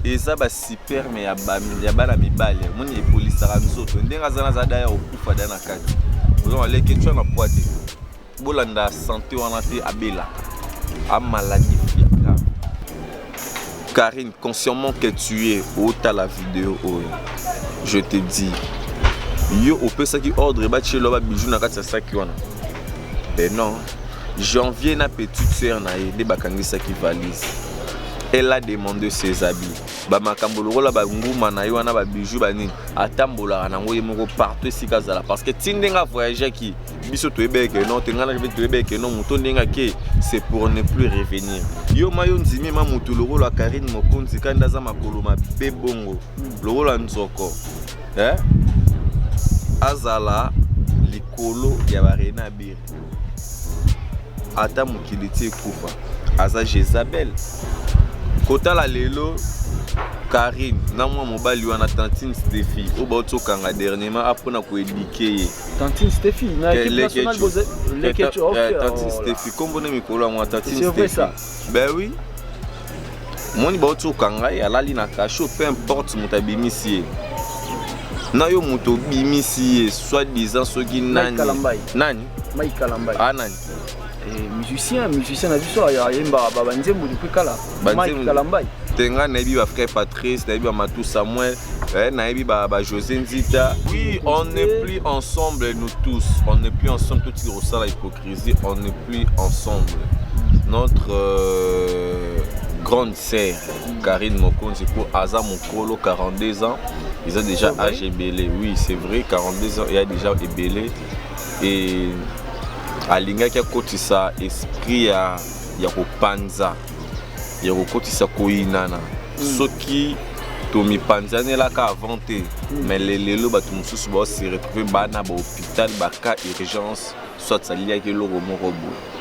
eza basiperme ya bana mibale omoni epolisaka nzoto ndenge aza naza daya kokufa da na kati ozo aleketwa na pwate Bolanda sante wana te abela a maladie Karine, consciemment que tu es, ota la vidéo oyo. Je te dis, yo opesaki ordre batielo ba bijou na kati ya saki wana. Ben non, janvier na petite sœur na ye nde bakangisaki valise. Elle a demandé ses habits. Ba makambo lokola ba nguma na ye wana ba bijou ba nini atambolaka nango ye moko partout esika azala parce que ti ndenge avoyageaki biso toyebee ke non te ngai na reveni toyebee ke non moto ndenge ake c'est pour ne plus revenir yo ma yo ndimi ma motu lokola karine mokonzi kandi nde aza makolo mabe bongo lokola nzoko eh? azala likolo ya barena bire ata mokili ti ekufa aza jezabel kotala lelo karine na mwa mobali wana tantine stephie oyo bauti okanga dernièrement apona koedike ye Tantine Steffi na équipe nationale boza Leketch ok. Eh, Tantine oh Steffi kombo na mikolo yango Tantine Steffi. C'est vrai ça. Ben oui. Moni ba otuka ngai alali na cachot peu importe moto abimisi ye. Na yo moto obimisi ye soit disant soki nani. Nani? Mike Kalambay. Ah nani? Eh, musicien musicien na biso ayembaka babanzembo depuis kala mike kalambai te ngai nayebi ba frère patrice nayebi ba matou samuel Eh, nayebi ba, ba josé nzita oui on n'est plus ensemble nous tous on n'est plus ensemble totika kosala hypocrisie on n'est plus ensemble notre euh, grande sœur karine mokonzi mpo aza mokolo 42 ans eza déjà âge ebele oui c'est vrai 42 ans eya déjà ebele e alingaki akotisa esprit ya, ya kopanza ya kokotisa koyinana mm. soki tomipanzanelaka avant te mm. mais lelelo bato mosusu baose retrouve bana bahopital baka urgence soit aliaki eloko moko boye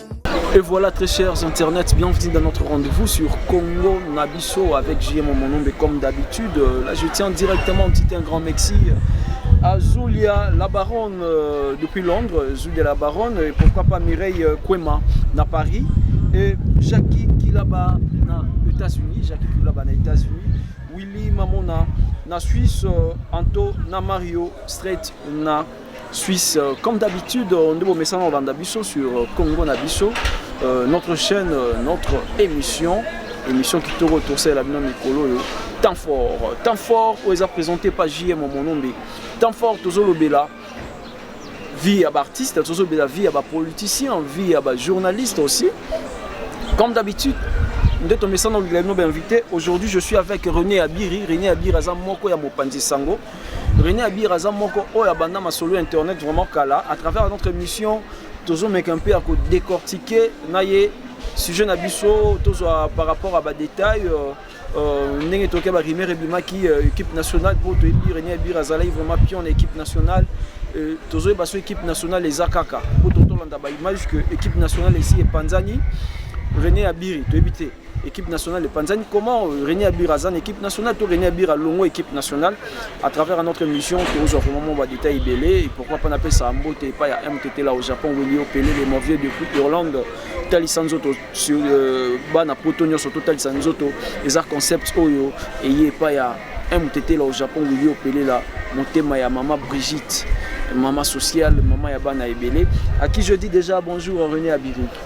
Et voilà très chers internet, bienvenue dans notre rendez-vous sur Congo Nabiso avec JM Monombe comme d'habitude. Euh, là je tiens directement petit un grand Mexi euh, à Zulia la baronne euh, depuis Londres, Zulia la baronne et pourquoi pas Mireille Kwema na Paris et Jackie Kilaba na États-Unis, Jackie Kilaba na États-Unis, Willy Mamona na Suisse, Anto na Mario Straight na Suisse, euh, comme d'habitude, euh, nous vous mettons en biso sur euh, Congo Nabiso, notre chaîne, notre émission, émission qui te retourne la bino mikolo yo. Temps fort, temps fort, où est présenté par JM Monombe. Temps fort, Tozo Lobela, vie à artiste, Tozo Lobela, vie à politicien, vie à journaliste aussi. Comme d'habitude, nde tomesana olingaki no bainvité aujourd'hui je suis avec rené abiri rené abiri aza moko ya mopanzi sango René Abir aza moko oyo abanda masolo ya internet vraiment kala à travers notre émission tozomeka un peu ya kodécortiquer na ye sujet na biso tozwa par rapport à badétail euh, euh, ndenge toke barimere ebimaki euh, équipe nationale mpo toyebi René Abir azalaki vraiment pion na équipe nationale tozoyeba so équipe nationale eza kaka mpo totolanda baimage que équipe nationale esi epanzani René Abiri toyebi te équipe nationale epanzani comment euh, René Abira aza na équipe nationale to René Abira longo équipe nationale à travers notre émission tozwa vraiment mwa badetail ebele et pourquoi pas napesa mbote epai ya mtt la au japon weli opele le mauvie de coupe irlande totalisa nzoto euh, bana poto nyonso totalisa nzoto eza concept oyo eye epai ya mtt la au japon weli opele la motema ya mama brigitte mama sociale mama ya bana ebele à qui je dis déjà bonjour René Abiri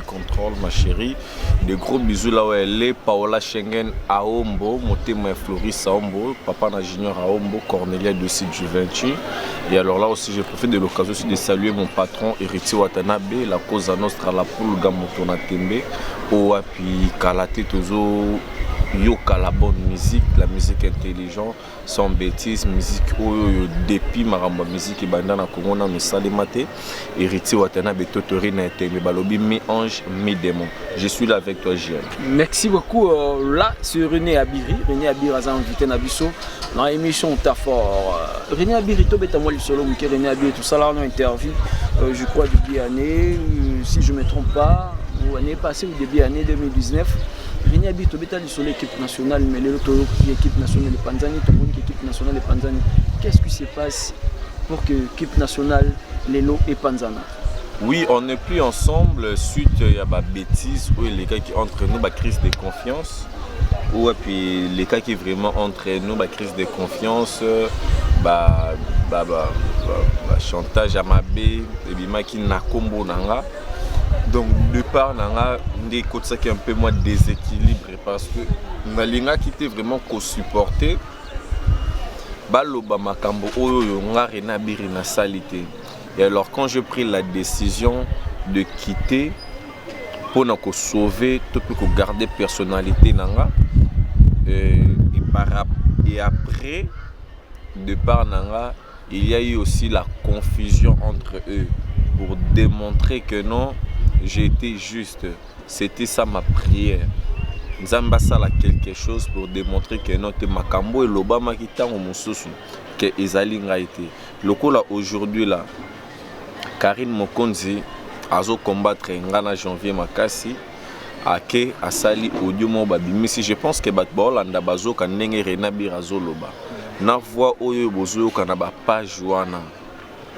Control ma chérie de gros bisous là où elle est Paola Schengen Aombo motema ya Floris Aombo papa na Junior Aombo Cornelia Dossi Juventus et alors là aussi je profite de l'occasion aussi de saluer mon patron Héritier Watanabe la cause à nostra la pulga moto na tembe owapi kala te tozo yoka la bonne musique la musique intelligente Sans betise musique oyo yo depuis makambo ya musique ebanda na Congo nanu esalema te. Héritier Watanabe Totori na Etembe balobi mi ange mi demon. Je suis là avec toi JM. Merci beaucoup. Euh, là, c'est René Abiri. René Abiri aza invité na biso na émission Tafor. Euh, René Abiri tobeta mwa lisolo moke René Abiri tosala na interview euh, je crois début d'année euh, si je me trompe pas ou année passée ou début d'année 2019 René Abiri tobeta sur l'équipe nationale mais lelo toyoki équipe nationale epanzani tomoni ke équipe nationale epanzani qu'est ce qui se passe pour que équipe nationale lelo epanzana oui on n'est plus ensemble suite ya babêtise oyo elekaki entre nous bacrise de confiance oyo epi elekaki vraiment entre nous bacrise de confiance ba, ba, ba, ba, ba chantage ya mabe ebimaki na nkombo na nga donc de part na nga nde ekotisaki un peu mwa déséquilibre parce que nalingaki te vraiment kosupporte baloba makambo oyo oyo nga rena biri nasali te et alors quand je pris la décision de quitter mpo na kosauve to mpe kogarde personnalité na nga euh, et, par, et après départ na nga il ya eu aussi la confusion entre eux pour demontrer que non j'etais juste c'etait ça ma prière nzambe asala quelque chose pour demontrer que non te makambo elobamaki ntango mosusu ke ezali ngai te lokola aujourd'hui la karine mokonzi azo combattre ngai na janvier makasi ake asali audio moko babimisi je pense que bato baolanda bazoka ndenge rena bira azoloba na voix oyo bozoyoka na bapage wana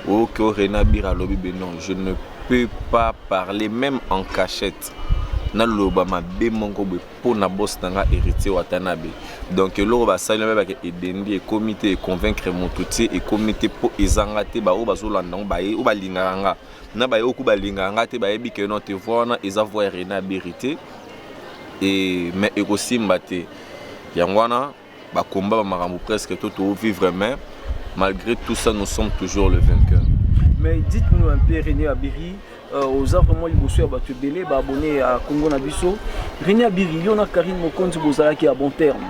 oyoki o rena bira alobi be non je ne peux pas parler même en cachette naloba mabe moko boye mpo na bos na ngai héritier watanabe donc eloko basali na bayebaka edendi ekomi te econvaincre moto te ekomi te mpo ezanga te baoyo bazolanda yango baye oyo balingaka nga na baye oku balingaka nga te bayebi ke non te voix wana eza voix ya Rene Abiri te et mais ekosimba te yango wana bakomba ba makambo presque to to vivre mais malgré tout ça nous sommes toujours le vainqueur mais dites-nous un peu Rene Abiri euh, oza vraiment liboso ya bato ebele baabone ya Congo na biso Rene Abiri yo na Karine Mokonzi bozalaki ya bon terme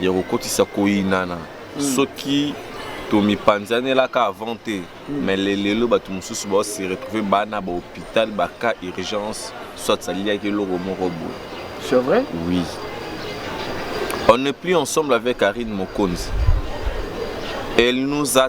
ya kokotisa koyinana mm. soki tomipanzanelaka avant te mm. mais lelelo bato mosusu bao se retrouve bana bahôpital baka urgence soit saliaki eloko moko boye c'est vrai oui on n'est plus ensemble avec karine mokonzi elle nous a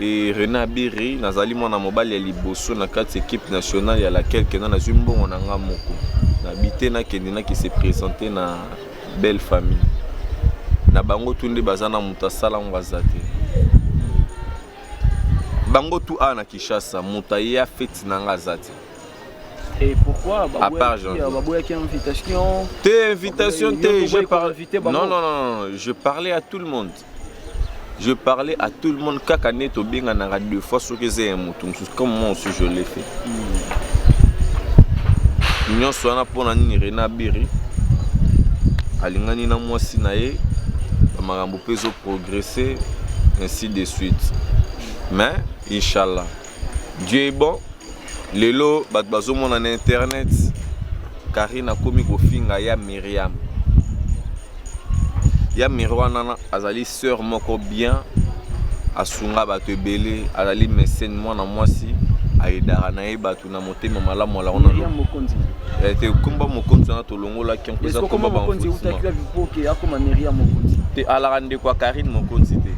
Et Renat Biri, nazali mwana mobali ya liboso na kati équipe nationale ya laquelle kenda nazwi mbongo na nga moko. Na bite na kende na ki se présenter na belle famille. Na bango tout nde baza na moto asala ngo aza te. Bango tout awa na Kinshasa moto aye a fete na nga aza te. Et pourquoi À part Jean. baboyaki invitation Te invitation Yo, te, yo je boyi ko parle inviter bango. Non non non, non, je parlais à tout le monde. je parlais à tout le monde kaka nde tobenganaka deux fois soki eza ya motu mosusu comme moi aussi je l'ai fait mm. nyonso wana mpo na nini rena biri alingani na mwasi na ye bamakambo mpe ezoprogresse ainsi de suite mais inshallah Dieu est bon. Lelo bato bazomona na internet Karine akomi kofinga ya Myriam. Ya Myriam wana azali sœur moko bien asunga bato ebele azali mesene mwana mwasi ayedaka na ye bato na motema malamu alako na eh, te komba mokonzi wana tolongolaki yango eza komba te alaka ndeko ya karine mokonzi te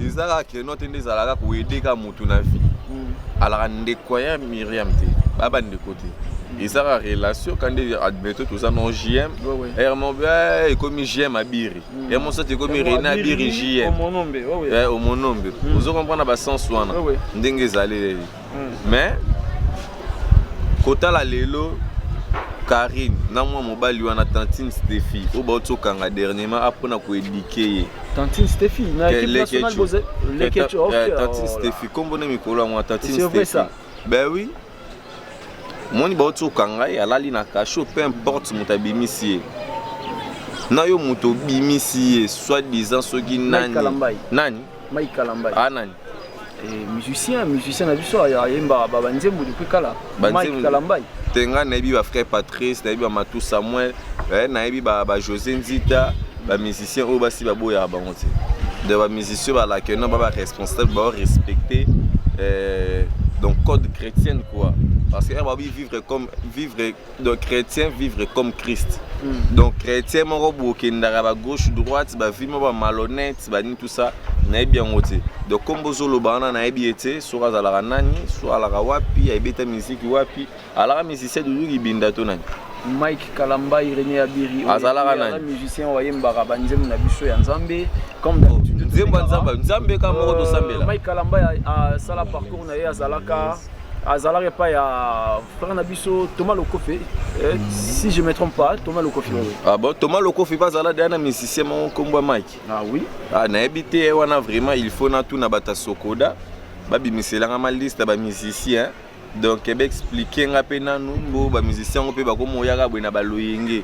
eza kaka non te nde ezalaka koyede ka motu na vie mm. alaka ndeko ya miriam te baya bandeko te mm. ezaka relation kandi admeto toza no jm ermobe eh, ekomi jm abiri mm. ermosati ekomi rene abiri jm omonombe eh, ozo comprendre na basens wana ndenge ezaleli mais kotala lelo Karine na mwa mobali wana tantine Steffi oyo bauti kokanga dernièrement apona koedike ye tantine Steffi na équipe nationale boze lekecho ok eh, tantine oh Steffi kombo na mikolo ya mwa tantine Steffi ben oui moni bauti kokanga ye alali na cachot peu importe moto abimisi ye na yo moto obimisi ye soit disant soki nani nani Mike Kalambay. Ah nani? Eh, musicien, musicien na biso ayemba ba banzembo depuis kala. Mike Kalambay. Tenga nayebi ba frère Patrice, nayebi ba Matou Samuel, eh, nayebi ba ba José Nzita, ba musicien oyo basi baboya bango te. De ba musicien ba la que non ba ba responsable ba respecter eh, donc code chrétienne quoi. Parce que eh, ba vivre comme vivre donc chrétien vivre comme christ mm. donc chrétien moko bokendaka ba gauche droite bavi moko ba malhonnête banini tout ça nayebi yango te donc kombo ozoloba wana nayebi ye te soki azalaka nani so alaka wapi ayebeta miziki wapi alaka musicien dudu kibinda to nani mike kalamba irene abiri azalaka nani musicien oyo ayembaka banzembo na biso ya nzambe comme oh, nzembo ya nzambe nzambe kaka moko tosambela euh, mike kalamba asala parcours na ye azalaka azalaka epai ya frère na biso Thomas Lokofe eh, si je me trompe pas Thomas Lokofe oui. Mm. ah bon Thomas Lokofe pas azala deya na musicien moko nkombo ya Mike ah oui ah nayebi te eh, wana vraiment il faut natuna bato ya Sokoda babimiselanga ma liste ya bamusicien donc ebe explike nga mpe nanu mbo bamusicien yango mpe bakomoyaka boye na baloyenge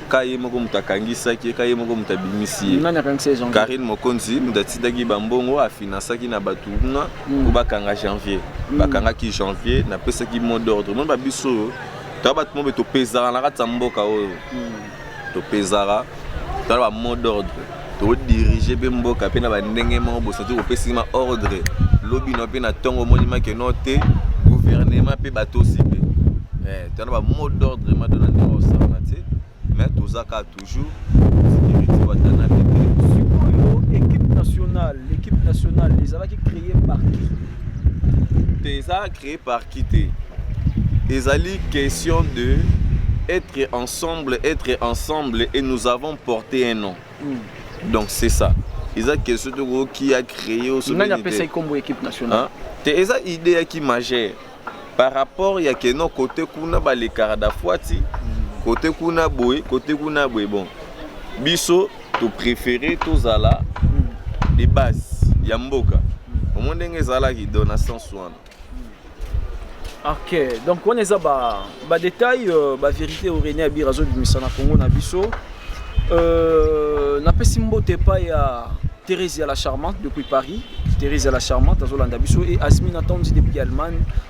ka ye moko moto akangisaki ye ka ye moko moto abimisi ye nani akangisa ye janvier karine mokonzi moto atindaki bambongo afinansaki na bato kuna mm. po bakanga janvier mm. bakangaki janvier napesaki mot d'ordre moni babiso oyo toya bato mobe topezaka na kati ya mboka oyo mm. topezaka tala ba mot d'ordre to dirige pe mboka pe na ba ndenge moko bosati kopesi ma ordre lobi no pe na tongo moni ma ke no te gouvernement pe batosi pe eh to na ba mot d'ordre ma dona ndenge osala te mais tozaka toujours sécurité watana pe sikoyo équipe nationale l'équipe nationale ezalaki créée par qui te eza Cree par qui te ezali question de être ensemble être ensemble et nous avons porté un nom mm. donc c'est ça eza question toko qui a créé au sommet nani apesa ikombo équipe nationale hein? te eza idée ya ki majeur par rapport ya keno côté kuna balekaka dafuati mm. côté kuna boye côté kuna boye bon biso To préfère tozala de base ya mboka. Omo ndenge ezalaki do na sens wana. Ok, donc wana eza ba ba détails euh, ba vérité au René Abira zo bimisa na Congo na biso. Euh, napesi mbote pa ya Thérèse ya la charmante depuis Paris. Thérèse ya la charmante azolanda biso et Asmina Tanzi depuis Allemagne.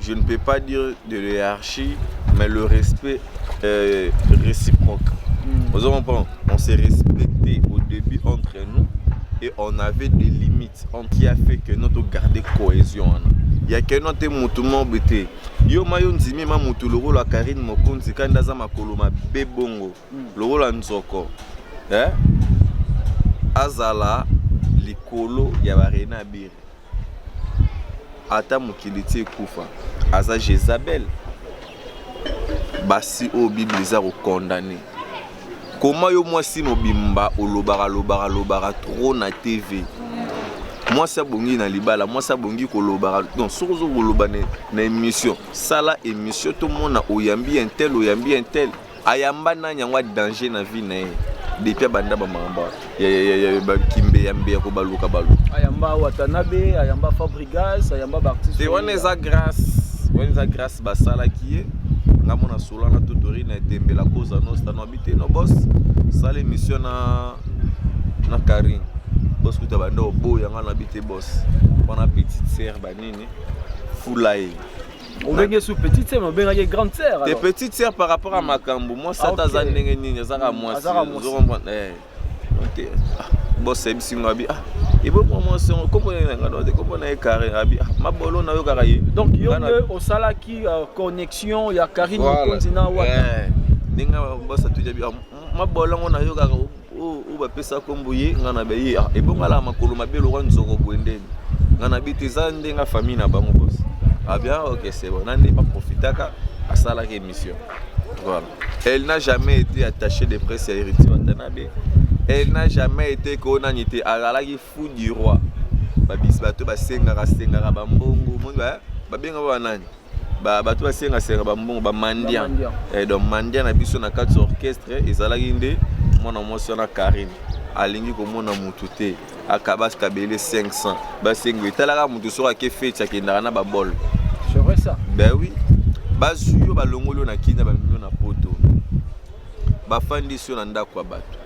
Je ne peux pas dire de l'hierarchie, mais le respect euh, réciproque. Mm. Vous comprenez On s'est respecté au début entre nous et on avait des limites en qui a fait que notre garder cohésion. Hein. ya keno te motu mobe te yo ma yo ndimi ma motu lokola karine mokonzi kandi aza makolo mabe bongo hmm. lokola nzoko eh? azala likolo ya barena abiri Ata mokili ti ekufa aza jezabel basi oyo bible eza ko condamne koma yo mwasi mobimba olobaka lobaka lobaka trop na tv mwasi abongi na libala mwasi abongi kolobaka donc soki ozo koloba na, na émission sala émission tomona oyambi intel oyambi intel Ayamba nani yango a danger na vie na ye. depuis abanda bamamba bakimbe ya mbeya ko baluka balu ayamba watanabe ayamba fabrigas ayamba baartiste te wana eza grace wana eza grace basalaki ye nga mona sola na totori na etembe la cause ya nosta no abite no bos sala émission na na karine bos kuta banda oboya nga na bite bos wana petite sere banini fula ye obenge su petite sœur obengaki ye grande sœur te petite sœur par rapport à makambo mwasi ata aza ndenge nini azaka mwasi ozokomprendre eh, ok ah, bos ayebisi ngo abi ah ebomwa mwasi yango kombo nini na ngai note kombo na ye carine abi ah mabolo na yo kaka ye donc yo nde osalaki euh, connexion ya carine mokonzi na wata eh, ndenge bos atujabi ah, mabolongo na yo kaka oyo bapesa nkombo ye ngai na baye ah, ebongala makolo mabe lokwa nzoko boye ndeni ngai na bite eza nde ngai famille na bango bos abia ah ok c'est bon na nde baprofitaka asalaki émission voilà elle n'a jamais été attachée de presse ya héritier watanabe elle n'a jamais été koonani te azalaki fou du roi babisi bato basengaka sengaka bambongo moni babengaka banani ba bato basengasenga bambongo bamandia eh, donc mandia na biso na kati orchestre ezalaki nde mwana mwasi wana karine alingi komona motu te akabas kabele 500 basengo etalaka motu soki ake feti akendaka na babol ben oui bazwi yo balongoli yo na kina bamemi yo na poto bafandisi yo na ndako ya bato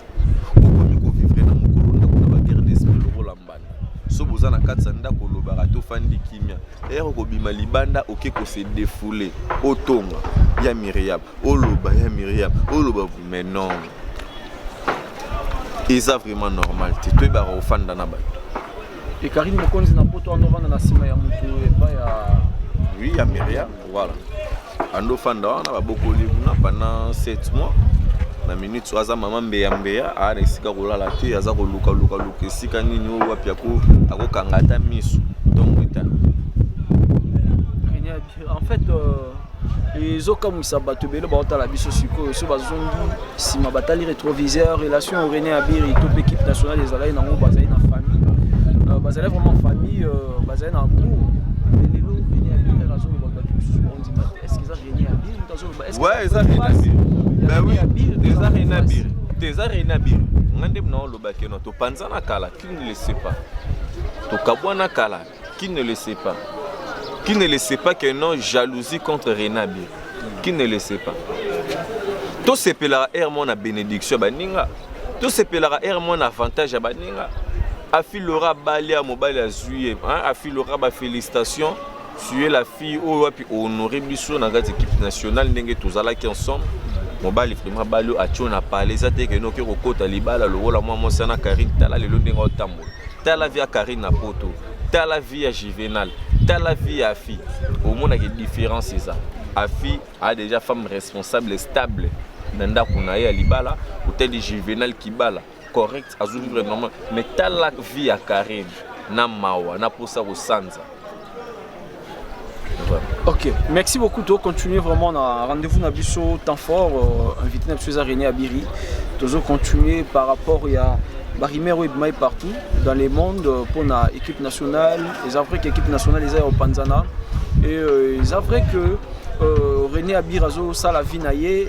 so boza na kati ya ndako olobaka tofandi kimia ere okobima libanda oke kose defoule otonga ya miriam oloba ya miriam oloba mais non eza vraiment normal te toyebaka kofanda na bato ekarine mokonzi na poto wana ovanda na nsima ya moto epai ya oui ya miriam Voilà. Ando fanda wana babokoli kuna pendant 7 mois na minute oyo aza mama mbeya mbeya aa na esika kolala te aza koluka luka luka esika nini oyo wapi akokanga ata miso donc eta en fait euh, ezokamwisa bato ebele baotala biso sikoyo so bazongi nsima batali retroviseur relation ya rene abiri to mpe équipe nationale ezalaki nango bazali na famille euh, bazali vraiment famille euh, bazali na amour lelo rene abiri azoloba bato mosusu baondima te est ce que eza rene abiri moto azoloba est ce que eza rene abiri ben oui eza rene abiri te eza rene abiri nga nde mna olobaki no topanzana kala tu ne le sais pas tokabwana kala Qui ne le sait pas? Qui ne le sait pas que non jalousie contre Renabi? Qui ne le sait pas? tosepelaka ere mwana bénédiction ya baninga tosepelaka ere mwana avantage ya baninga afilora abali ya mobali azwi ye afilora bafélicitation suye la fille oyo wapi honore biso na kati équipe nationale ndenge tozalaki ensemble mobali vraimen abali oyo atio na pale eza te kenoki kokota libala lokola mwa mwasi wana karine tala lelo ndenge otambola tala vie ya carine na poto tala vie ya juvenal tala vie ya afi omonaka différence eza afi a déjà femme responsable stable na ndako na ye ya libala otali juvenal kibala correct azovivre normal mais tala vie ya carine na mawa na mposa kosanza Ok, merci beaucoup. Tu continuer vraiment na rendez-vous na biso temps fort euh, invité na biso eza René Abiri. Tu continuer par rapport à barimero ebimai partout dans le monde euh, pour na équipe nationale. Eza vrai que équipe nationale eza au Panzana et euh, eza vrai que euh, René Abiri azo sala vie na ye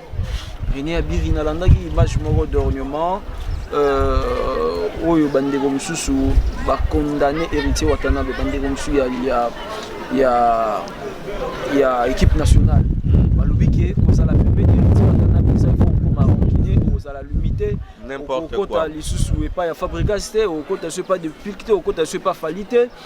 Rene Abiri nalandaki image moko d'ornement euh, oyo bandeko mosusu bacondamne héritier watanabe bandeko mosusu ya, ya, ya, ya équipe nationale balobi ke kozala pembeni héritier watanabe eza fo okoma rancune ozala limite okokota lisusu epai ya fabrigas te okokota so epai de pilk te okokota so epai fali te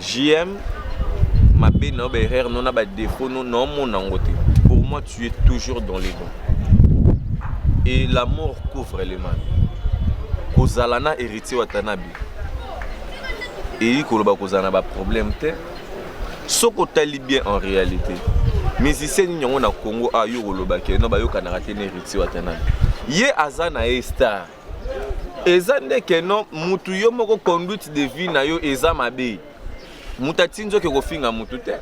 JM, mabe na yo, ba erreur no na ba défaut no, na omona yango te. Pour moi, tu es toujours dans les bons. Et la mort couvre les mal. Kozala na héritier Watanabe. Eyi koloba kozala na ba problème te. Soko tali bien en réalité. Musicien nini yango na Congo a yo koloba ke no bayokanaka te na héritier Watanabe. Ye aza na ye star. eza nde que non mutu yo moko conduite de vie na yo eza mabe mutu atindi yo ke kofinga mutu te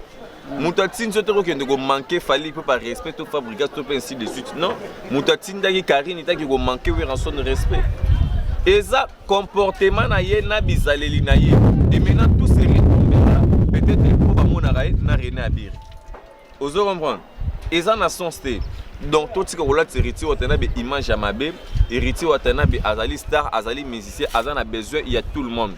moto atindi yo te kokende komanke fali mpe par respect to fabrigas to mpe ainsi de suite non moto atindaki karine etaki komanke weranson respect eza comportement na ye na bizaleli na ye et maintenant tout se retombera peut-être mpo bamonaka ye na rene abiri ozo comprendre eza na sens te donc totika kolatisa héritier watanabe image ya mabe héritier watanabe azali star azali musicien aza na besoin ya tout le monde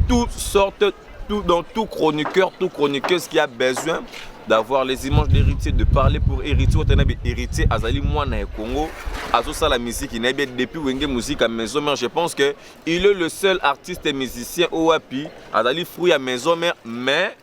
toutes sortes tout, dans tout chroniqueur, tout chroniqueuse qui a besoin d'avoir les images d'héritier, de parler pour héritier, Watanabe héritier, Azali Mwana et Congo, Azosa la musique, il bien depuis Wenge Musique à Maison Mère, je pense que il est le seul artiste et musicien OAPI, Azali fruit à Maison Mère, mais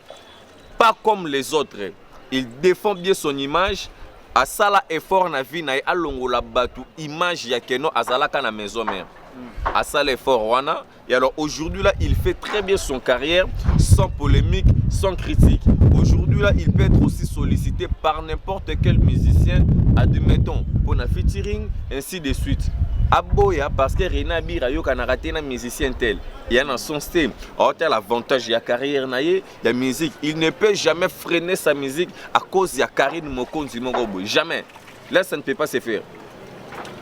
pas comme les autres il défend bien son image asala effort na vie na ye alongola bato image ya keno azalaka na maison mère mm. asala effort wana et alors aujourd'hui là il fait très bien son carrière sans polémique sans critique aujourd'hui là il peut être aussi sollicité par n'importe quel musicien admettons pour un featuring ainsi de suite aboya parce que rena abira ayokanaka te na musicien tel ya na sens te aotala avantage ya carrière na ye ya musique il ne peut jamais freiner sa musique à cause ya Karine Mokonzi moko boye jamais là ça ne peut pas se faire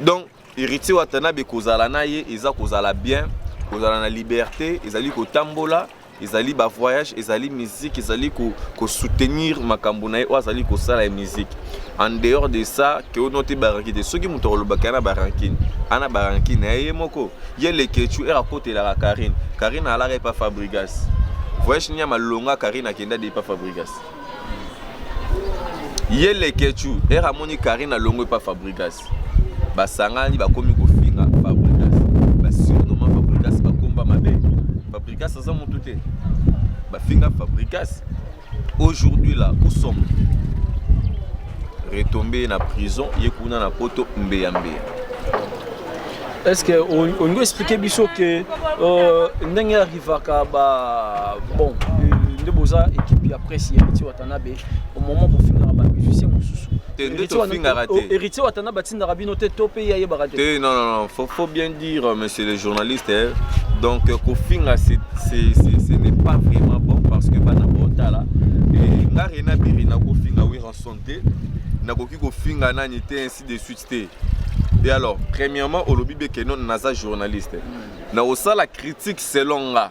donc héritier Watanabe kozala na ye eza kozala bien kozala na liberté ezali kotambola ezali ba voyage ezali musique ezali ko, ko soutenir makambo na ye oyo azali kosala ya musique en dehors de ça ke ono te baranki te soki moto akolobaka na barankine ana barankine na ye moko ye lekechu ere akotelaka karine karine alaka epa fabrigas voyage nini ya malonga karine akenda de epa fabrigas ye lekechu ere amoni karine alongo epa fabrigas basangani bakomi kofinga fabrigas basurnoma fabrigas bakomba mabe fabrigas aza motu te bafinga fabrigas Aujourd'hui là, où sommes Retombé na prison, ye kuna na poto mbeya mbeya. Est-ce que on, on nous expliquer biso que euh, ndenge arrivaka ba bon nde boza équipe ya presse ya Héritier Watanabe au moment bofingaka ba musicien mosusu héritier watanabe atindaka bino te to mpe ye ayebaka te non non non faut, faut bien dire monsieur le journaliste eh, donc kofinga ce n'est pas vraiment bon parce que bana botala eh, nga rena biri nakofinga wiranson te nakoki kofinga nani te ainsi de suite te et alors premièrement olobi beke non naza journaliste nakosala critique selon nga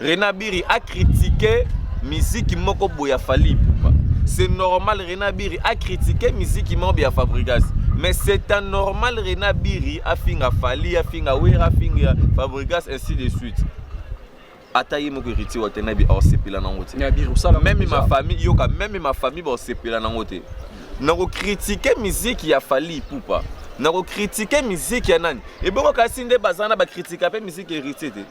Rena Biri a critiquer musique moko boya Fally Ipupa. C'est normal Rena Biri a critiquer musique moko boya Fabregas. Mais c'est un normal Rena Biri a finga Fally, a finga Wera, a finga Fabregas ainsi de suite. ata ye moko héritier wa te na bi aosepela nango te meme ma famille yoka meme ma famille baosepela nango te nakokritike miziki ya fali ipupa nakokritike miziki ya nani ebongo kasi nde baza na bakritika mpe miziki héritier te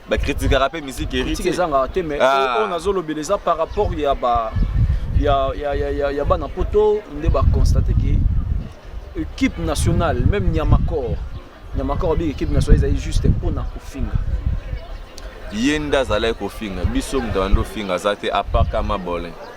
ba critiquera pe musique héritier critique ezanga te mais ah. on azo lobela eza par rapport ya ba ya ya ya ya, ya bana poto nde ba constater que équipe nationale même Niamakor Niamakor abi équipe nationale ezali juste pona kofinga ye nde azalaki kofinga biso moto abandi ofinga aza te apart kama bolin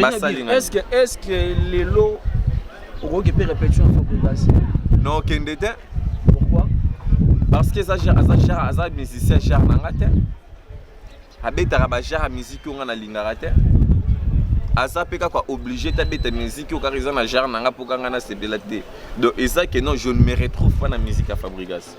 basali na est-ce que est-ce que lelo okoki pe répétition ya Fabregas non kende te pourquoi parce que eza aza genre aza musicien genre na nga te abetaka ba genre ya musique oyo nga nalingaka te aza mpe kaka oblige te abeta musique oyo kaka eza na genre na nga mpo kanga nasepela te donc eza que non je ne me retrouve pas na musique ya fabrigas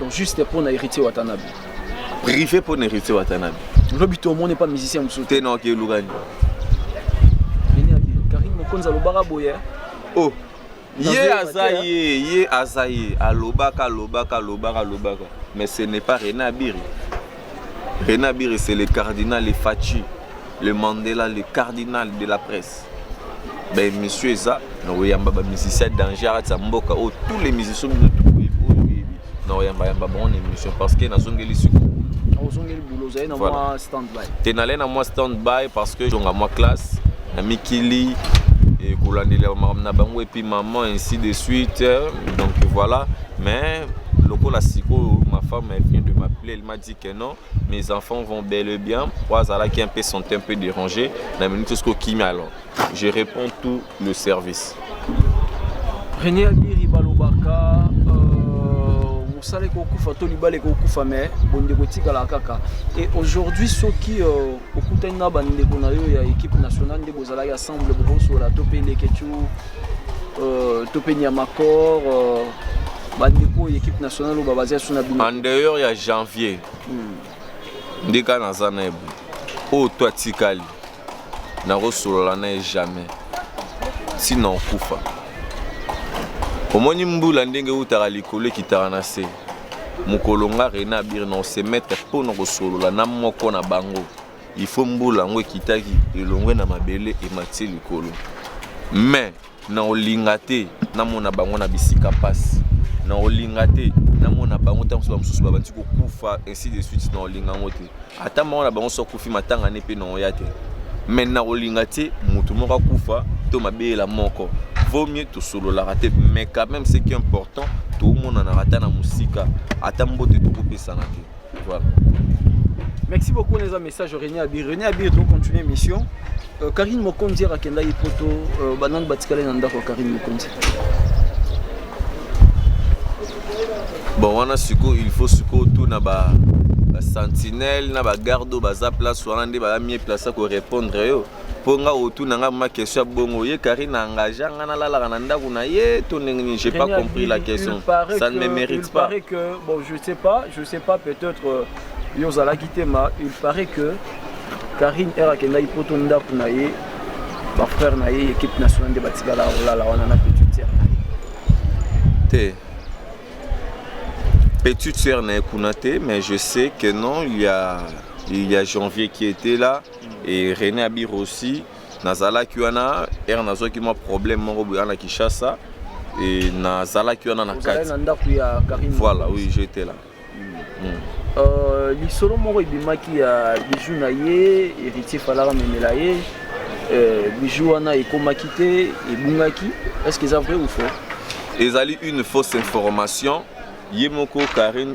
donc juste mpo na héritier watanabe privé mpo na héritier watanabe lobi to omoni epa musicien mosusu te noki elukani karine mokonzi alobaka boye oh ye aza ye ye aza ye alobaka alobaka alobaka alobaka mais ce n'est pas rena abiri Rena Biri c'est le cardinal le Fatshi, le Mandela, le cardinal de la presse. Ba émission eza na oyamba ba musiciens danger aza mboka oyo tous les musiciens bino tout oyo oyebi na oyamba yamba bango na émission parce que nazongeli siko. Ozongeli boulot ozali na mwa stand by. Te nalai na mwa stand by parce que jonga mwa classe na mikili et kolandela makambo na bango et puis maman ainsi de suite donc voilà mais lokola sikoyo ma femme elle vient de m'appeler Il m'a dit que non, mes enfants vont bel et bien. Wazala qui un peu sont un peu dérangés. La minute ce qui alors. Je réponds tout le service. René Abiri Balobaka, mosala euh, ekokufa to libala ekokufa me bondeko etikala kaka e aujourd'hui soki euh, okutani na bandeko na yo ya équipe nationale nde bozalaki ensemble bokosola to mpe leketu euh, to mpe niamacor bandeko ya équipe nationale oyo babaza so na bino en dehors ya janvier hmm. nde kaka naza na ebo oyo to atikali nakosolola na ye jamais ntina okufa omoni mbula ndenge eutaka likolo ekitaka na se mokolo nga rena abiri na osemetre mpo na kosolola na moko na bango ifo mbula yango ekitaki elongwe na mabele emati likolo mais Nakolinga te namona bango na bisika mpasi, nakolinga te namona bango ntango mosusu bamosusu babandi kokufa ainsi de suite, nakolinga yango te. Ata moko na bango soki akufi matanga ne mpe nakoya te, mais nakolinga te moto moko akufa to mabeyela moko vaut mieux tosololaka te mais quand même ce qui est important tomonanaka ata na mosika ata mbote tokopesana te Voilà. Merci beaucoup les amis, message René Abir. René Abir donc continuer mission. Euh, Karine Mokonzi akenda ye poto euh, banani batikali na ndako ya Karine Mokonzi. Bon wana siko il faut siko tout na ba ba sentinelle na ba garde baza place wana nde ba mieux place ko répondre yo. mpo nga otuna nga ma question ya bongo ye karine engagea nga nalalaka na ndako na ye to ndenge nini j'ai pas compris la question ça ne me mérite pas que, bon je sais pas je sais pas peut-être euh, yo ozalaki te ma il paraît que karine ere akendaki poto ndako na ye bafrère na ye équipe nationale nde batikala kolala wana na petite sœur na ye te petite sœur na ye kuna te mais je sais que non il y a, il y a janvier qui était là et René Abir aussi nazalaki wana ere nazwaki mwa problème moko boya na Kinshasa et nazalaki wana na kati na ndako ya Karine voilà oui j'étais là mm. Mm. Euh, lisolo moko ebimaki ya bijou na ye héritier falaka memela ye euh, bijou wana ekomaki te ebungaki est ce que eza vrai ou faux ezali une fausse information ye moko Karine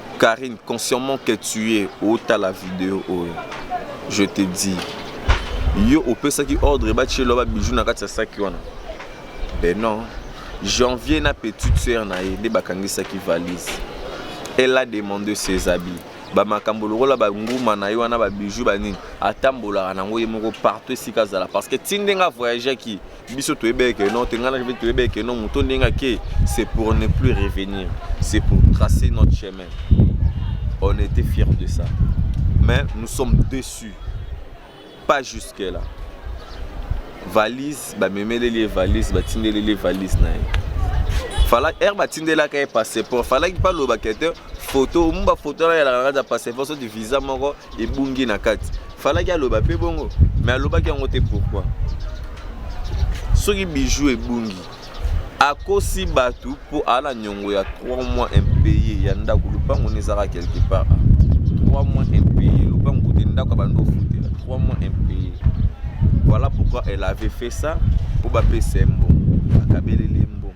Carine consciemment que tu es otala video oyo je te dis yo opesaki ordre batielo ba bijou na kati ya saki wana ben non janvier na petite sœur na ye nde bakangisaki valise elle a demandé ses habits bamakambo lokola banguma na ye wana babiju banini atambolaka nango ye moko partout esika azala parce que ti ndenge avoyageaki biso toyebee que non tenga na toyebee que non moto ndenge ake c'est pour ne plus revenir c'est pour tracer notre chemin on était fiers de ça mais nous sommes déçus pas jusque là valise bamemeleli ye valise batindeleli ye valise na ye fala ere batindelaka ye passeport falaki balobaka te foto omoni bafoto na yalaka kaka passeport soti visa moko ebungi na kati falaki aloba mpe bongo me alobaki yango te pourkui soki bijou ebungi akosi bato mpo ala nyongo ya 3 mois impayé ya ndako lopango na ezaka quelque part 3 mois impayé lopango kote ndako ya bando ofutela 3 mois impayé voilà pourquoi elle avait fait ça mpo bapesa ye mbongo akabeleli ye mbongo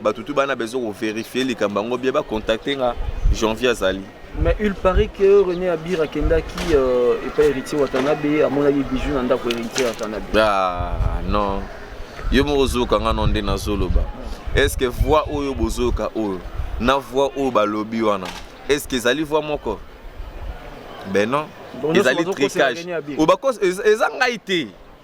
Bato tout bana besoin ko verifier likambo yango bien ba contacter nga janvier azali. Mais il paraît que René Abir akendaki euh, epai héritier Watanabe amonaki bijou na ndako héritier Watanabe. Ah non. Yo moko ozoyoka nga no nde nazoloba. Est ce que voix oyo bozoyoka oyo na voix oyo balobi wana est ce que ezali voix moko? Ben non. Bon, ezali tricage. Obakosa eza ngai te.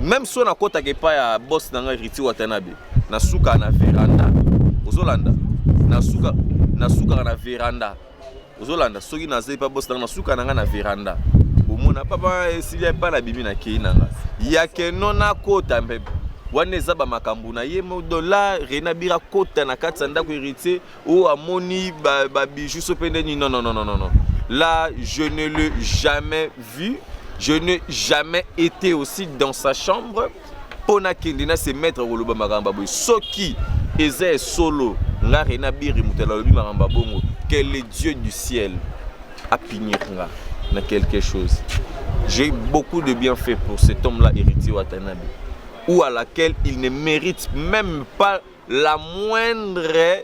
Meme so nakotaka epai ya boss na ngai Riti Watanabe, nasuka na veranda. Ozolanda? Nasuka nasukaka na veranda. Ozolanda? Soki naza epai boss na ngai, nasuka na ngai na veranda. Bomona papa esili epai na bimi na kei na ngai. Ya keno nakota mpe wana eza bamakambo na ye modola rena bira kota na kati ya ndako heritier oh amoni ba, ba bijoux so pe ndeni non non non non non là je ne le jamais vu je n'ai jamais été aussi dans sa chambre mpo nakende na se mettre koloba makambo boye soki eza ya solo nga rena biri moto alobi makambo ya bongo que le dieu du ciel apinir nga na quelque chose j'ai beaucoup de bien fait pour cet homme là héritier watanabe ou à laquelle il ne mérite même pas la moindre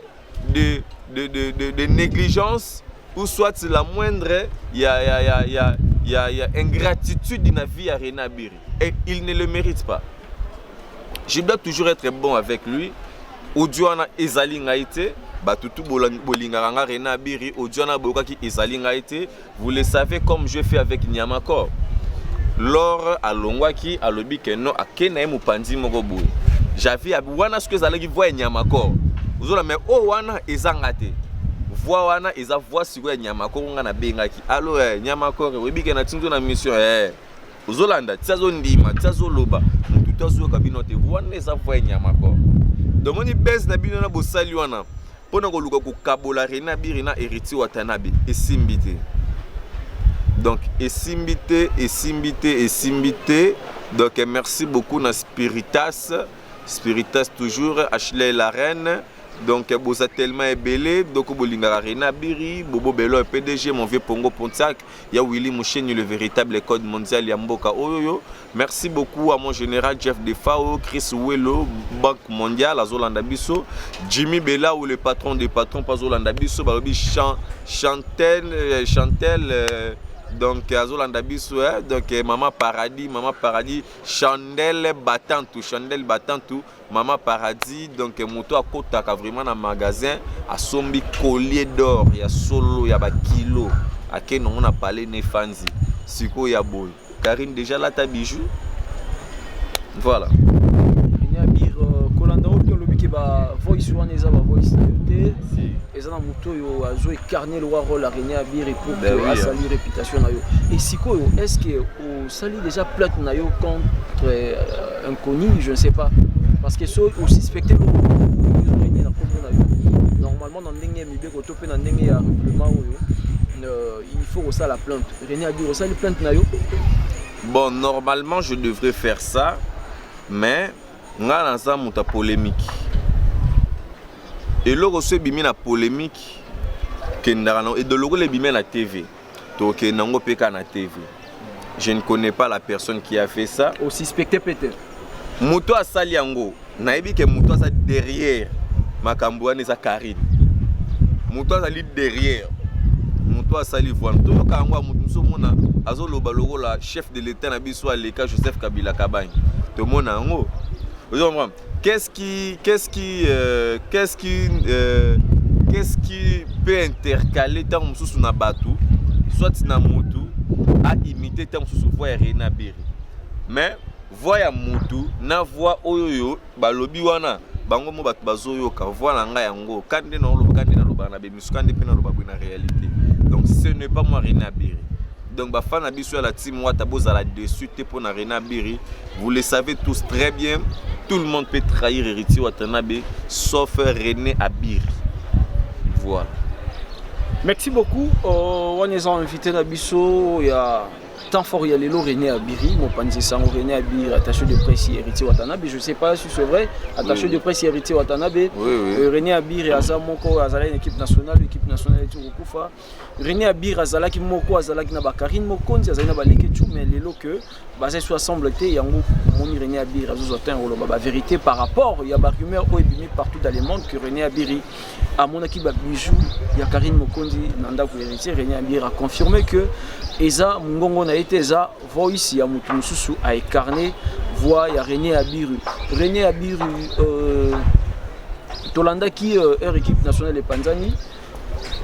de, de, de, de, de négligence ou soit la moindre ya, ya, ya, ya, ya, ya ingratitude na vie ya Rena Biri. Et il ne le mérite pas. Je dois toujours être bon avec lui. Audio wana ezali ngai te bato tu bolingaka nga Rena Biri audio wana boyokaki ezali ngai te Vous le savez comme je fais avec Niamacor. Lors alongwaki alobi que non ake na ye mopanzi moko boye. Javi wana soki ezalaki voix ya Niamacor. Ozola mais o oh, wana ezanga te. Voix wana eza voix siko ya Niamacor nga na bengaki. Allo eh Niamacor oyebi que na tinzo na mission eh. ozolanda ti azondima ti azoloba motu to azoyoka bino te wana eza voye nyama ko domoni bese na bino na bosali wana mpo na koluka kokabola rena biri na heriti watanabe esimbi te donc esimbi te esimbi te esimbi te donc merci beaucoup na spiritas spiritas toujours ashley la reine donc boza tellement ebele doko bolingaka rena biri bobo belo pdg mon vieux pongo pontiac ya Willy Musheni le véritable code mondial ya mboka oyo merci beaucoup à mon général Jeff Defao Chris Welo banque mondiale azolanda biso Jimmy Bella ou le patron des patrons pas azolanda biso balobi chan, chantel euh, chantel euh, donc azolanda biso eh? donc euh, mama paradis mama paradis chandelle batantu chandelle batantu Maman Paradis, donc moto akotaka vraiment na magasin, asombi collier d'or ya solo ya ba kilo, ake nongo na palais ne fanzi. Siko ya boy. Karine déjà là ta bijou. Voilà. Nya biro kolanda oyo lobi ke ba voice wana eza ba voice te. Eza na moto oyo azo incarner le rôle ya René Abiri pour que asali réputation na yo. Et sikoyo est-ce que Osali deja plate na yo contre euh, inconnu, je ne sais pas. Parce que so osuspecte lokoende na kombo na yo. Normalement na ndenge ya mibeko to mpe na ndenge ya règlement oyo euh, il faut kosala plainte. René adi osali plainte na yo? Bon, normalement je devrais faire ça, mais ngai naza moto ya polémique. eloko so ebimi na polémique kendaka na edo lokola ebimi na tv tokende nango mpe kaka na tv je ne connais pas la personne qui a fait ça osuspecte peut-être moto asali yango nayebi ke moto aza derrière makambo wana eza karine moto azali derrière moto asali voile toyoka yango ya moto mosusu omona azoloba lokola chef de l'état na biso aleka joseph kabila kabange tomona yango ozo comprendre Qu'est-ce qui, qu'est-ce qui, euh, qu'est-ce qui, euh, qu'est-ce qui peut intercaler tant mususu na batu, soit na mutu a imiter tant mususu voix ya Reina Biri. Mais voix ya mutu na voix oyo yo balobi wana bango mo batu bazoyoka voix na ngai yango kande na oloba kande na loba na bemi suka nde mpe naloba boye na réalité donc ce n'est pas moi rena biri donc bafan na biso ya la team wata bozala dessus te mpo na rena biri vous le savez tous très bien tout le monde peut trahir héritier watanabe sauf rené abiri voilà merci beaucoup euh, wana eza invité na biso ya Temps fort ya lelo René Abiri, mopanzi sango René Abiri, attaché de presse héritier Watanabe, je sais pas si c'est vrai, attaché oui. de presse héritier Watanabe. Oui, oui. Euh, René Abiri aza moko azala une équipe nationale, équipe nationale etu kokufa. René Abiri azalaki moko azalaki na ba Karine Mokonzi, azali na ba Leketchou mais lelo que baza so ensemble te yango moni René Abiri azo zo atteindre ba vérité par rapport ya ba rumeurs oyo ebimi partout dans le monde que René Abiri amonaki ba bijoux ya Karine Mokonzi na ndako ya héritier René Abira confirme que eza mungongo na ye te eza voice ya moto mosusu a incarne voix ya René Abiru René Abiru euh, tolandaki euh, heure équipe nationale epanzani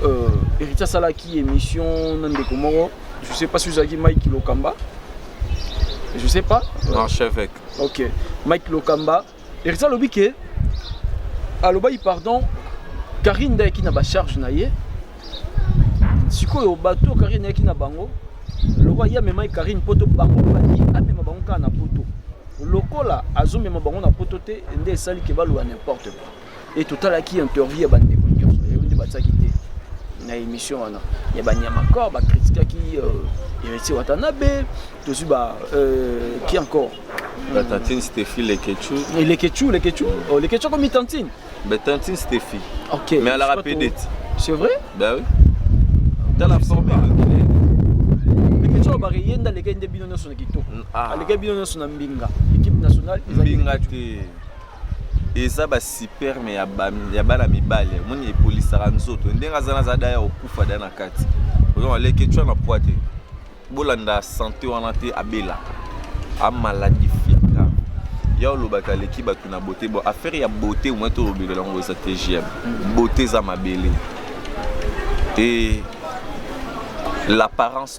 euh, héritier asalaki émission na ndeko moko je sais pas si ozalaki Mike Lokamba je sais pas euh, archevêque ok Mike Lokamba Heritier alobi ke alobaki pardon Karine nde ayaki na bacharge na ye sikoyo bato oyo Karine ayaki na bango lokola ye amemaki Karine poto bango baki amema bango kaka na poto lokola azomema bango na poto te nde esali ke baloba n'importe quoi Et totalaki interview ya bandeko nyonso yango nde batiaki te na émission wana ya banyama corps bakritikaki euh, héritier watanabe tozwi ba euh, qui encore La tantine Stéphie Leketchou. Et leketchu leketchu oh, leketchu akomi tantine Mais tantine Stéphie. ok Mais elle a je sais pas rappelé trop. d'être. c'est vrai Bah oui. Dans la forme de leketchu oyo bareye nde alekaki nde bino nyonso na kitoko Ah. alekaki bino nyonso na mbinga équipe nationale ezali Mbinga te. eza ba superme ya bana mibale omoni epolisaka nzoto ndenge aza naza daya okufa da na kati ozoma leke tshwa na pwa te bolanda sante wana te abela amaladifia grave ya olobaka aleki bato na bote bo affaire ya bote omoi tolobela yango eza te gm bote eza mabele e l'apparence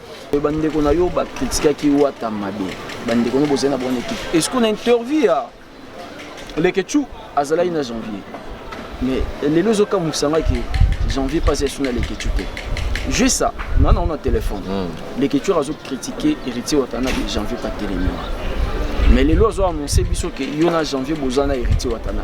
bandeko na yo bakritikaki wata mabe bandeko no bozali na bonne équipe est ce qu'on a interview ya lekechou azalaki na janvier mais lelo ezokamwisa ngai ke janvier mpasi esu na lekechou te jeu ça nga nango na téléphone hmm. lekechou azocritiquer héritier watana ke janvier patelemia mais lelo azoannonce biso ke yo na janvier boza na héritier watana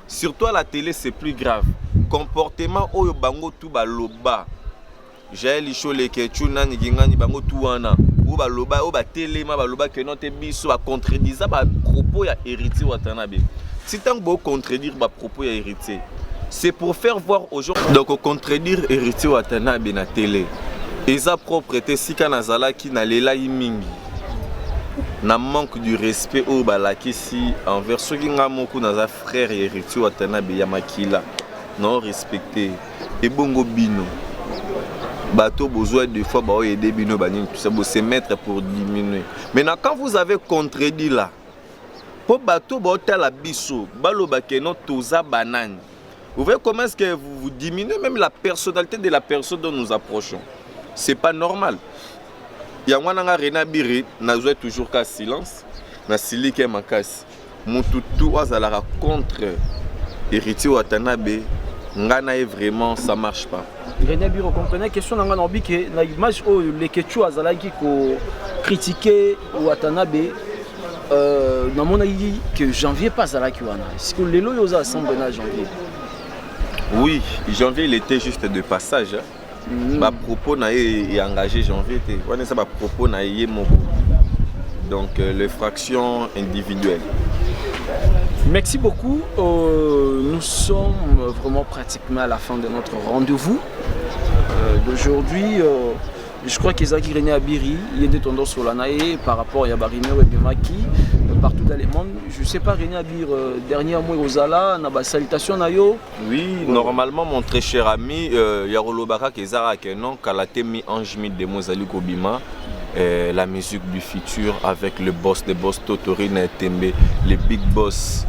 Sur toi la tele c'est plus grave comportement oyo bango tu baloba Jael Isholeke Chu nani gingani bango tu wana oyo baloba oyo batelema baloba que non te biso ba contredisa ba propos ya héritier Watanabe si ntango bo contredire ba propos ya héritier c'est pour faire voir aux gens donc contredire héritier Watanabe na tele eza propre te sika nazalaki nalelaki mingi na manque du respect oyo balakisi merci envers soki nga moko naza frère ya héritier watanabe ya makila nao respecte ebongo bino bateau besoin de fois baoyo aide bino banini tout ça bo se mettre pour diminuer maintenant quand vous avez contredit là mpo bateau baotala biso baloba keno toza banani Vous voyez comment est-ce que vous, vous diminuez même la personnalité de la personne dont nous approchons. C'est pas normal. yango wana nga rena biri nazwa toujours ka silence nasilike makasi mutu tu azalaka contre héritier watanabe nga na ye vraiment ça marche pas rena biri ocomprenai question na nga naobi ke na image oyo lekechou azalaki ko critique watanabe Euh, namonaki que janvier mpe azalaki wana siko lelo oyo oza asemble na janvier oui janvier il était juste de passage mm. bapropos na ye engagé janvier te wana eza bapropos na ye moko donc euh, les fractions individuelles Merci beaucoup. Euh, nous sommes vraiment pratiquement à la fin de notre rendez-vous euh, d'aujourd'hui. Euh, je crois qu'ezalaki René Abiri ye nde tondo sola na ye par rapport ya barumeur ebemaki euh, partout dans le monde je sais pas René Abir euh, dernière mois ozala na basalutation na yo oui bon. normalement mon très cher ami euh, ya koloba kaka eza kaka non kala te mi ange mi demo ezali kobima euh, la musique du futur avec le boss de boss Totorine Tembe le big boss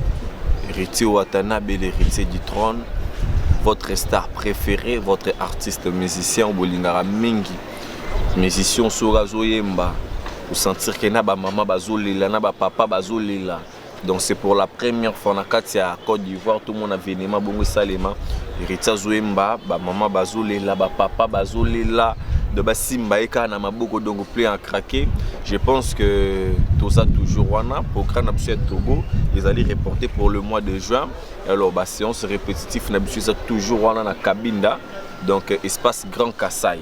héritier Watanabe l'héritier du trône votre star prefere votre artiste musicien bolingaka mingi musicien soki azoyemba osentir ke na bamama bazolela na bapapa bazolela donc c'est pour la première fois na kati ya côte d'ivoire tomona avenema bongo esalema hériti azoyemba bamama bazolela bapapa bazolela de basimba ye kaka na maboko donc plein à craquer je pense que toza toujours wana programme na biso ya togo ezali reporté pour le mois de juin alors ba séance répétitif na biso eza toujours wana na kabinda donc euh, espace grand kasai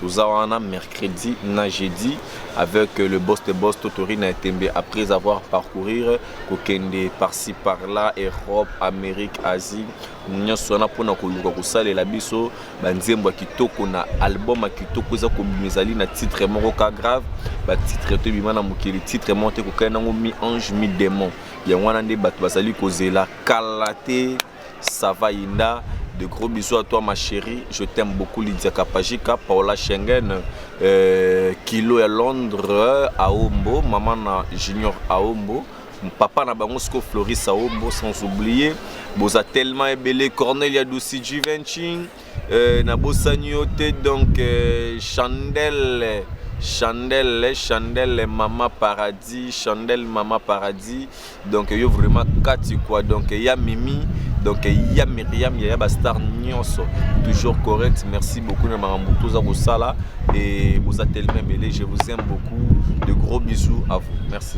toza wana mercredi na jeudi avec euh, le boss de boss totori na etembe après avoir parcourir kokende parci par là europe amérique asie nyonso wana mpona koluka kosalela biso banzembo ya kitoko na album ya kitoko eza kobima ezali na titre moko ka grave batitre to ebima na mokili titre moko te kokani nango mi ange mi démon Yango wana nde bato bazali kozela kala te Sava Inda de gros bisous à toi ma chérie je t'aime beaucoup Lydia Kapajika Paola Schengen euh, Kilo ya Londres Aombo maman na Junior Aombo papa na bango siko Floris Aombo sans oublier boza tellement ebele Cornelia Dusi Givenchy Euh, nabosani yo te donc euh, chandelle chandelle chandelle mama paradis chandelle mama paradis donc yo vraiment kati quoi donc ya mimi donc ya miriam yaya bastar nyonso toujours correct merci beaucoup na makambo toza kosala et boza telema ebele je vous aime beaucoup de gros bisous à vous merci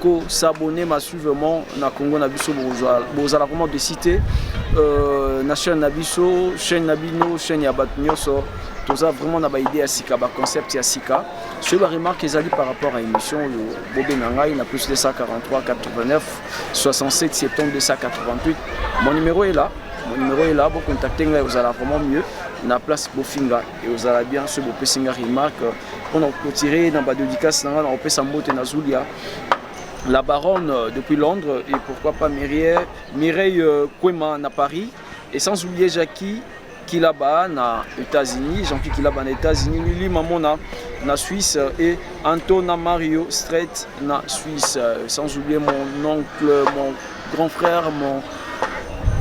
ko s'abonner massivement na Congo na biso bokozwa bozala vraiment de cité euh, na chaîne na biso chaîne na bino chaîne ya bato nyonso toza vraiment na baide ya sika baconcept ya sika soki baremarke ezali par rapport ya émission oyo bobenga ngai na plus 243 89 67 septembre 288 mon numéro est là mon numéro est là bocontacte ngai ozala vraiment mieux na place bofinga eozala bien soki bopesi ngai remarque On a clôturé dans ba dédicace nanga na opesa mbote na Zulia. La baronne euh, depuis Londres et pourquoi pas Mireille, Mireille euh, Kwema na Paris et sans oublier Jackie Kilaba na États-Unis, Jean-Pierre Kilaba na États-Unis, Lili Mamona na Suisse et Antona Mario Strait na Suisse. Euh, sans oublier mon oncle, mon grand frère, mon,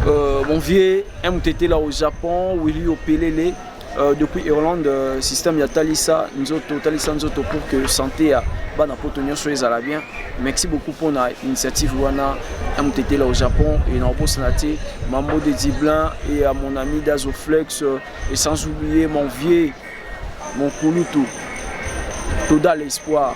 euh, mon vieux MTT là au Japon, Willy Opelele. Euh, depuis Irlande, euh, système ya talisa nzoto talisa nzoto pour que santé ya bana poto nyonso ezala bien. Merci beaucoup pour na initiative wana ya motetela au Japon et na obosana te Mambo de Diblin et à mon ami Dazoflex euh, et sans oublier mon vieux mon kulutu Toda l'espoir